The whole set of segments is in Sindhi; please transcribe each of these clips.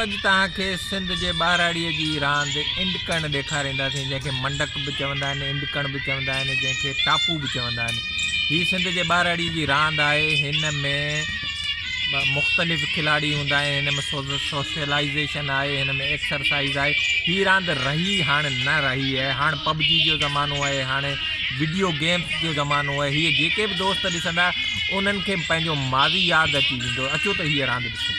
اڄ توهان کي سنڌ جي ٻهراڙيء جي راند انڊ ڪڻ ڏيکارينداسين، جنهن کي منڊڪ به چوندا آهن، انڊ ڪڻ به چوندا آهن، جنهن کي ٽاپو به چوندا آهن. هي سنڌ جي ٻهراڙيء جي راند آهي. هن ۾ مختلف کلاڙي هوندا آهن. هن ۾ سوشلائيزيشن آهي، هن ۾ ايڪسرسائيز آهي. هي راند رهي هاڻ نه رهي آهي. هاڻ پبجي جو زمانو آهي، هاڻ وڊيو گيمز جو زمانو آهي. هيء جيڪي به دوست ڏسندا، انهن کي پنهنجو ماضي ياد اچي ويندو. اچو ته هيء راند ڏسون.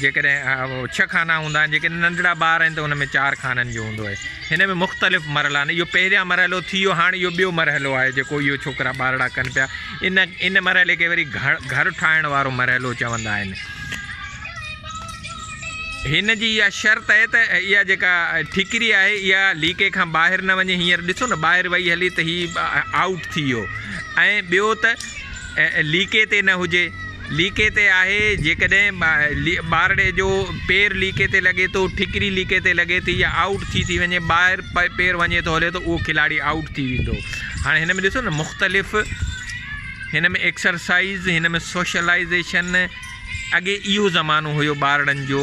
جيڪڏهن اهي ڇهه خانا هوندا آهن، جيڪڏهن ننڍڙا ٻار آهن ته ان ۾ چار خانن جو هوندو آهي. هن ۾ مختلف مرحلا آهن. اهو پهريان مرحلو ٿي ويو، هاڻ اهو ٻيو مرحلو آهي جيڪو اهي ڇوڪرا ٻارڙا ڪن پيا. ان ان مرحلي کي وري گهر ٺاهڻ وارو مرحلو چوندا آهن. هن جي اها شرط آهي ته اها جيڪا ٺڪري آهي اها ليڪي کان ٻاهر نه وڃي هينئر ڏسو نه ٻاهر وئي هلي ته هي آئوٽ ٿي ويو ۽ ٻيو ته ليڪي تي نه هجي. ليڪي تي آهي، جيڪڏهن ٻارڙي جو پير ليڪي تي لڳي ٿو، ٺڪري ليڪي تي لڳي ٿي يا آئوٽ ٿي ٿي وڃي، ٻاهر پير وڃي ٿو هلي ته اهو کلاڙي آئوٽ ٿي ويندو. هاڻي هن ۾ ڏسو نه مختلف هن ۾ ايڪسرسائيز، هن ۾ سوشلائيزيشن، اڳي اهو زمانو هيو ٻارڙن جو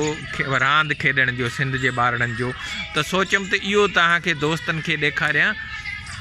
راند کيڏڻ جو سنڌ جي ٻارڙن جو ته سوچيم ته اهو تهان کي دوستن کي ڏيکاريان.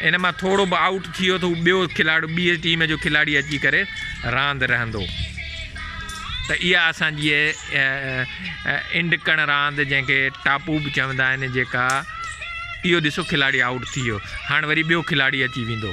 ان مان ٿورو به آئوٽ ٿي ويو ته هو ٻيو کلاڙو ٻي ٽيم جو کلاڙي اچي ڪري راند رهندو ته اها اسان جي انڊ ڪڻ راند جنهن کي ٽاپو به چوندا آهن جيڪا اهو ڏسو کلاڙي آئوٽ ٿي ويو هاڻ وري ٻيو کلاڙي اچي ويندو